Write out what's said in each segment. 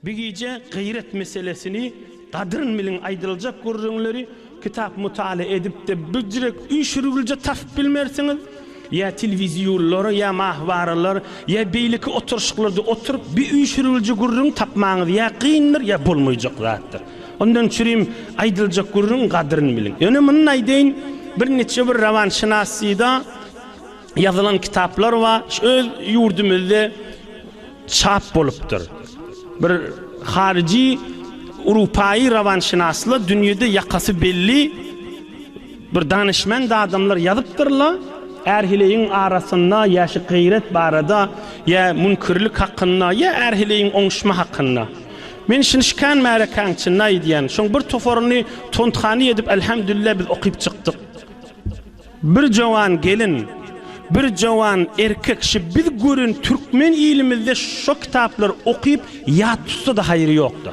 Bu gije gyýrat meselesini gadryn biliň aýdyljak gürrüňleri kitap mutala edipde büjrek üýşürgilje tapyp bilmersiňiz ýa tilwizýullara ýa mahwaralar ýa beýleki oturyşyklarda oturyp bi üýşürgilje gürrüň tapmaňyz ýa kyndyr ýa bolmaýjak zatdyr ondan çürim aýdyljak gürrüň gadryn biliň ýöne muny aýdaýyn bir niçe bir rawanşynassyda ýazylan kitaplar bar. Şu öz ýurdumyzda çap bolupdyr. Bir haryjy urupaýy rawanşynasla dünýede ýakasy belli bir danyşmend adamlar ýazypdyrlar. Ärhiligiň arasynda ýaşy gyýrat barada ýa münkirlik hakynda ýa ärhiligiň oňuşma hakynda. Men şuny şikän märekäň çyny aýdýan. Şoň bir toparyny tonthany edip alhamdulillah biz okyp çykdyk. Bir jowan gelin, bir jowan erkek şi biz gören türkmen ilimizde şo kitaplar okyp ýat tutsada haýry ýokda.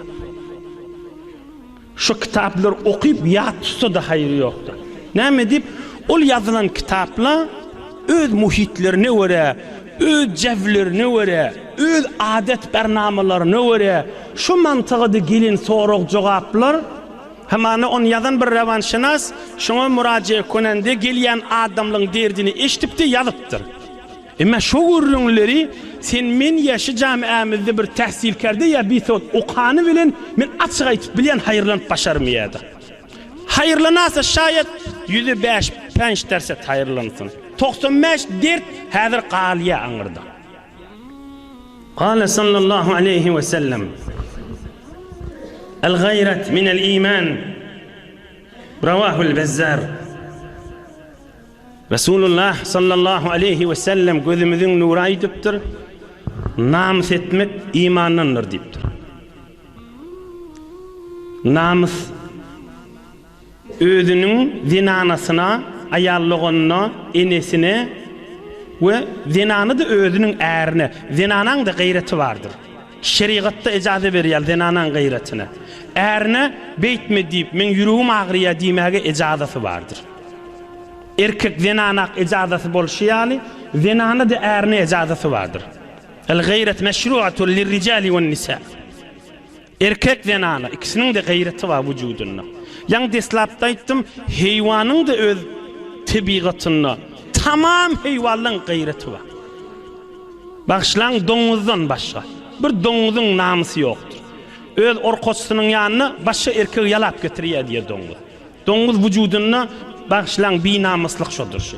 Şo kitaplar okyp ýat tutsada haýry ýokda. Näme dip ol ýazylan kitapla öz muhitlerine görä, öz jäwlerine görä, öz adet-bernamalaryna görä şo mantygada gelen sorag-jogaplar, Hamana ony ýazan bir rowanşynas şoňa muraje konende gelýän adamlyň derdini eşdipdi, ýazypdyr. Emma şo gürrüňleri sen men ýa şu jamiämizde bir tähsilkerde ýa bisowat okany bilen men açyk aýtyp bilýän haýyrlanyp başarmy ýa-da? Haýyrlanasa şaýat ýüzi bäş, pänç derset haýyrlansyn. Togsan bäş dert häzir galýa aňyrda. Gale sallallahu aleýhi we sellem, El gaýrat minel iman, Rawahul Bezzar. Resulullah sallallahu aleýhi we sellem gözümiziň nury aýdypdyr, namys etmek imandandyr diýipdir. Namys özüniň zenanasyna, aýal doganyna, enesine we zenany-da özüniň ärine, zenanaň-da gaýraty bardyr. Şerigat-da ejaza berýär zenanaň gaýratyna. Ärine beýtme diýip, meň ýüregim agyrýar diýmäge ejazaty bardyr. Erkek zenana-ak ejazaty bolşy ýaly, zenana-da ärine ejazaty bardyr. El-gaýrat meşruatul lirrijali wen-nisa. Erkek zenana ikisiniňde gaýraty bar wujudynda. Ýaňy deslapda aýtdym, heýwanyňda öz tebigatynda tamam heýwanlaň gaýraty bar. Bagyşlaň doňuzdan başga bir doňuzyň namysy ýokdur. Öz orkaçsynyň ýanyna başga erkegi ýalap getirýär diýýär doňuz. Doňuz wujudynda bagyşlaň binamyslyk şodur şu.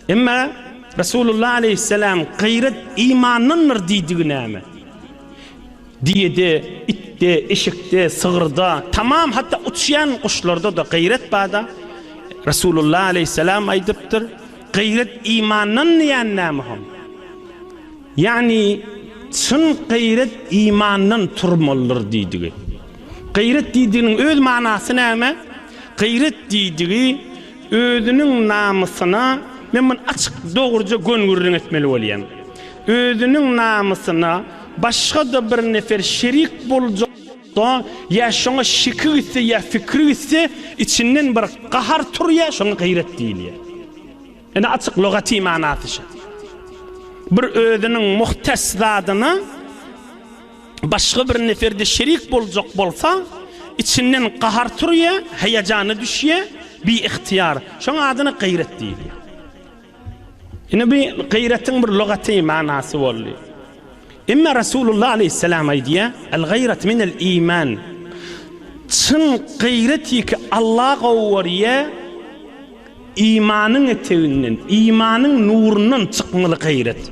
Emma Resulullah aleýhissalam Gaýrat imandandyr diýdigi näme? Diýede, itde, eşekde, sygyrda, tamam hatda uçýan guşlarda-da gaýrat barda, Resulullah aleýhissalam aýdypdyr, Gaýrat imandan diýýän näme hom? Ýagny çyn gaýrat imandan turmalydyr diýdigi. Gaýrat diýdiginiň öz manasy näme? Gaýrat diýdigi Özüniň namysyna men muny açyk, dogruja gön-gürrüň etmeli bolýan. Özüniň namysyna başga-da bir nefer şerik boljakda, ýa şoňa şiki gitse, ýa fikri gitse, içinden bir gahar turýar, şoňa gaýrat diýilýär. Ine, açyk lugaty manysy şu. Bir özüniň muhtes zadyna. başga bir nefer-de şerik boljak bolsa, içinden gahar turýar, heýejana düşýär, biygtyýar. Şoň adyna gaýrat diýilýär. Ine bu gaýratyň bir lugaty manasy boldy. Emma Resulullah aleyhisselam aýdýar, El gaýrat minel iman. Çyn gaýrat ýeke Allah gowurýa imanyň eteginden, imanyň nurundan çykmaly gaýrat.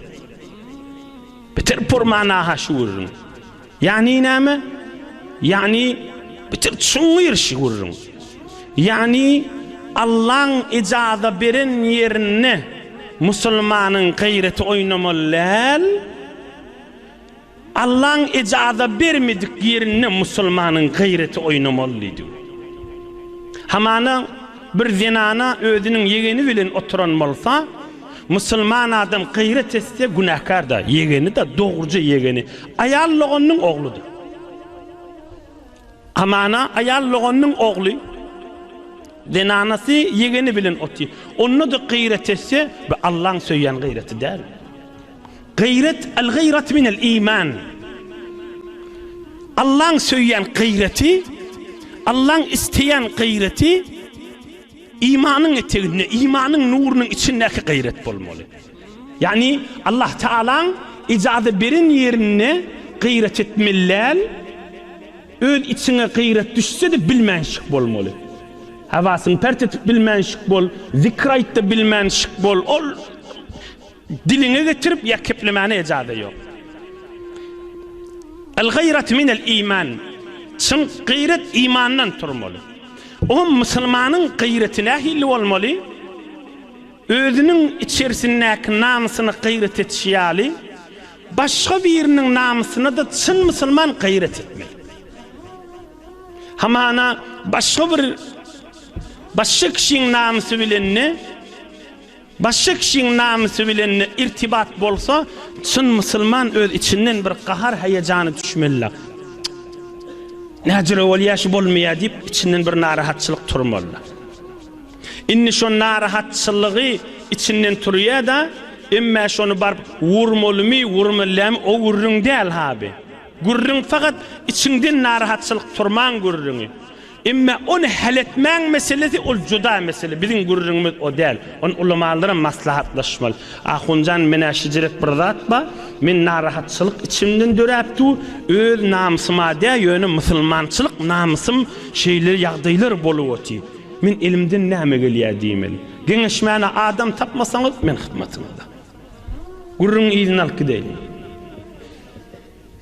Bitir purman aha şu gürrüň. Ýagny näme? Ýagny bitir çuňňur şu gürrüň. Ýagny Allaň ijaza beren ýerinde musulmanyň gaýraty oýnamaly däl. Allaň ijaza bermedik ýerinde musulmanyň gaýraty oýnamaly diýdi. Hamana bir zenana özüniň ýegeni bilen oturan bolsa, Musulman adam gyrat etse günäkar-da, ýegeni-de, dogruja ýegeni, aýal doganynyň ogludyr. Amana aýal doganynyň ogly, zenanasy, ýegeni bilen otyr. Onda-da gyrat etse, bu Allaň söýýän gyraty däl. Gyrat, al-gyrat minel iman. Allaň söýýän gyraty, Allaň isleýän gyraty. Imanyň eteginde, imanyň nurunyň içindäki gaýrat bolmaly. Ýagny Allah Tagalaň ijaza beren ýerinde gaýrat etmeli däl, öz içiňe gaýrat düşse-de bilmän şyk bolmaly. Hawasyňy pert edip bilmän şyk bol, zikir aýt-da bilmän şyk bol. Ol. Diliňe getirip ýa keplemäne ejade ýok. El gayrat minel iman. Çyn gyrat imandan turmaly. O musulmanyň gyraty nähili bolmaly? Özüniň içerisindäki namysyny gyrat etişi ýaly, başga biriniň namysyna-da çyn musulman gyrat etmeli. Hamana başga bir başga kişiň namysy bilen-de, Başga kişiň namysy bilen irtibat bolsa, çyn musulman öz içinden bir gahar-heýejana düşmeli. Näcirä bolýa şu bolmaýa diýip içinden bir narahatçylyk turmaly. Indi şo narahatçylygy içinden turýa-da, emmä şony baryp wurmalymy, wurmallamy o gürrüň däl-ha bi. Gürrüň fakat içiňden narahatçylyk turmaň gürrüňi. Emme ony hal etmäň meselesi ol juda mesele biziň gürrüňimiz o däl ony ulamalaram maslahatlaşmaly. Ahunjan menä şijirek bir zat bar men narahatçylyk içimden döräp dur öz namsyma dä ýöne musulmançylyk namsym şeýle ýagdaýlar bolup oty men elimden näme gelýä diýmeli geňeşmäne adam tapmasaňyz men hyzmatyňyzda. Gürrüňi yzyna alyp gideýin.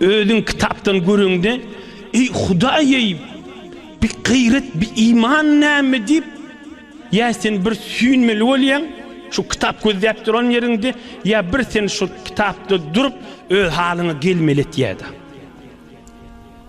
Özüň kitapdan göreňde, Eý, Hudaý-eý, bi gaýrat, bi iman näme? diýip, ýa sen bir süýnmeli bolýaň, şu kitap gözläp duran ýeriňde, ýa bir sen şu kitapda durup, öz halyňa gelmeli et ýa-da.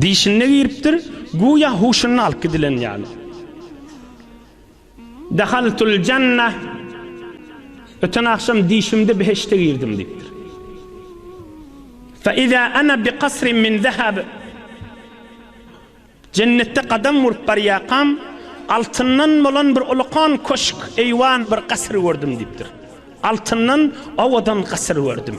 Dişinde giripdir, güýä huşuny alyp gidilen ýaly. Dehaltul janna, öten agşam dişimde behişde girdim diýipdir. Fe iza ana bi kasrin min zehab, Jennetde gadam urup barýarkam, altyndan bolan bir ulukan köşk, eýwan, bir gasyr gördüm diýipdir. Altyndan owadan gasyr gördüm.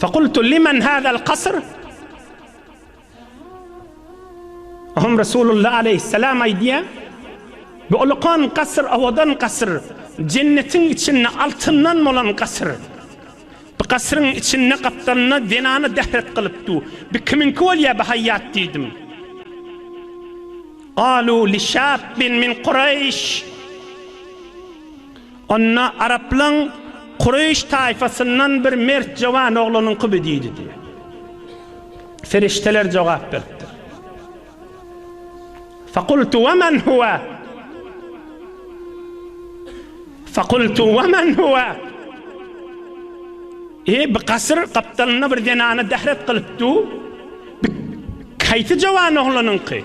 Fakultu limen hadal kasr? Hom Resulullah aleyhisselam aýdýa, bu ulukan kasr, owadan kasr, jennetiň içinde altyndan bolan kasr. Bu kasryň içinde gapdalynda zenany dehret kylyp du, bi kimiňki bolýa bi haýýat diýdim. Galu li şabbin min Kureýş. Onda araplaň Kureýş taýfasyndan bir mert jowan oglunyň kuby diýdi diýe. Ferişdeler jogap beripdir. Fakultu we men huwe. Fakultu we men huwe. E, bir gasyr gapdalynda bir zenana dehret gylyp du. Haýsy jowan oglunyňky?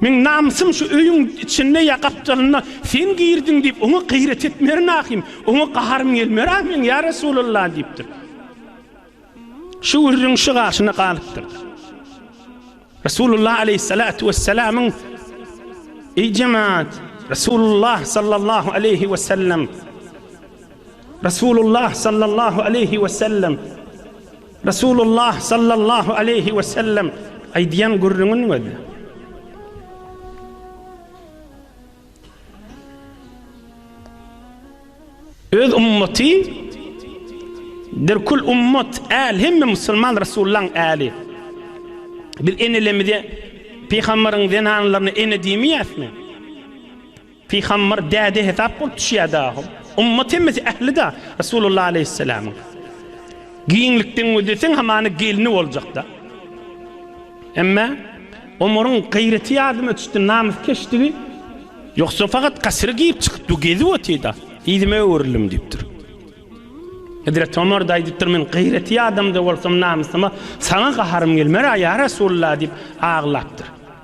Meň namysym şu öýüň içinde ýa gapdalynda sen girdiň diýip, oňa gaýrat etmerin ahym, oňa gaharym gelmer ahym, ýa Resulalla diýipdir. Şu gürrüň şu garşyna galypdyr. Resulullah aleýhissalatu wessalamyň Eý jemaat, Resulullah sallallahu aleýhi we sellem Resulullah sallallahu aleýhi we sellem Resulullah sallallahu aleýhi we sellem aýdýan gürrüňiň özi. Öz ummaty derkul ummat äl hemme musulman Resulullahyň äli. Biz enelerimize pygamberiň zenanlaryna ene diýmeýäsmi? Pygambar däde hesap bolup düşýär dahum. Ummat hemmesi ähli-da Resulullah aleýhissalamyň. Giňlikden gözleseň hamana gelni boljakda. Emma Omaryň gaýraty ýadyma düşdi, namyskeşdigi. Ýogsa fakat gasyra girip çykypdy, gezip otyda. Yzyma öwrüldim diýipdir. Hezreti Omar-da aýdypdyr, men gaýraty ýadam-da bolsam namysyma saňa gaharym gelmer-ä ýa Resulullah diýip aglapdyr.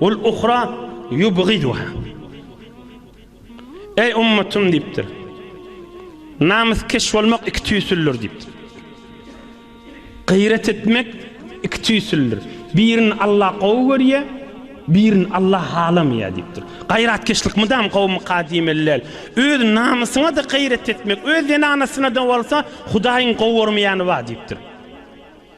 Ol uhra yubgiduha. Eý ummatym diýipdir. Namyskeş bolmak iki tüýsüldür diýipdir. Gyýrat etmek iki tüýsüldür. Birini Allah gowy görýär, birini Allah halamaýar diýipdir. Gaýratkeşlik mydam gowumy kadymy däl. Öz namysyňa-da gyýrat etmek, öz zenanasyna-da bolsa Hudaýyň gowy görmeýäni bar diýipdir.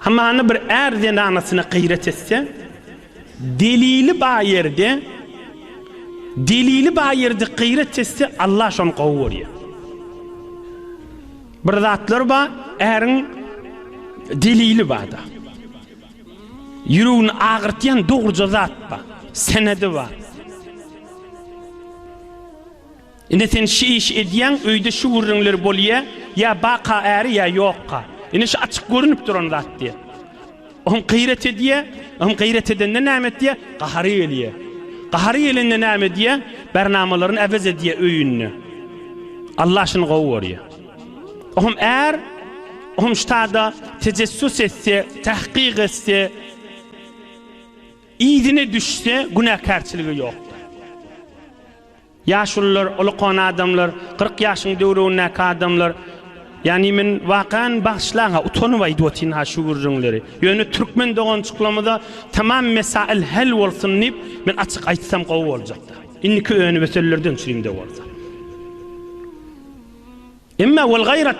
Hamana bir är zenanasyna gyýrat etse, delili bar ýerde, delili bar ýerde gyýrat etse, Allah şony gowy görýär. Bir zatlar bar, äriň delili barda. Ýüregini agyrtýan dogruja zat bar, senedi bar. Indi sen şi işi edýäň, öýde şu gürrüňler bolýa, ýa baka äri ýa ýokka. Indi şu açyk görünip duran zat diýä. Ohm gyýrat edýä, ohm gyýrat edende näme etýä, gahary gelýä. Gahary gelende näme edýä, bernamalaryny äwez edýä öýünde. Allah şuny gowy görýä. Ohm är, ohm ştada tejessüs etse, tahkyk etse, yzyna düşse günäkärçiligi ýokdur. Ýaşulylar, uly kona adamlar, kyrk ýaşyň döwrügindäki adamlar, ýagny men wakaýan bagyşlaň-a, utanyp aýdyp otyryn-ha şu gürrüňleri. Ýöne türkmen doganjyklarymyza tamam mesaýyl hal bolsun diýip, men açyk aýtsam gowy boljak-da. Indiki önüme sözlerden çürim-de bolsa. Emma wal gaýrat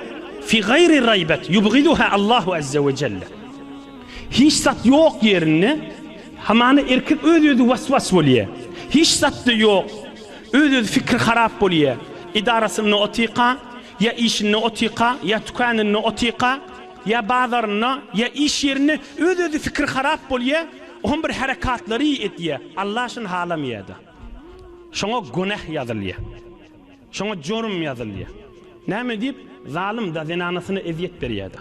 fi gaýri raýbat ýubgiduha Allahu azza we jelle. Hiç zat ýok ýerinde hamana erkek öz-özi was-was bolýar. Hiç zat-da ýok, öz-özi fikri harap bolýar. Edarasynda otyka, ýa işinde otyka, ýa tükanynda otyka, ýa bazarynda, ýa iş ýerinde öz-özi fikri harap bolýar, ohm bir herekatlary edýär, Alla şuny halamýar-da. Şoňa günäh ýazylýar. Şoňa jorum ýazylýar. Näme diýip, zalym-da, zenanasyna ezýet berýär-de.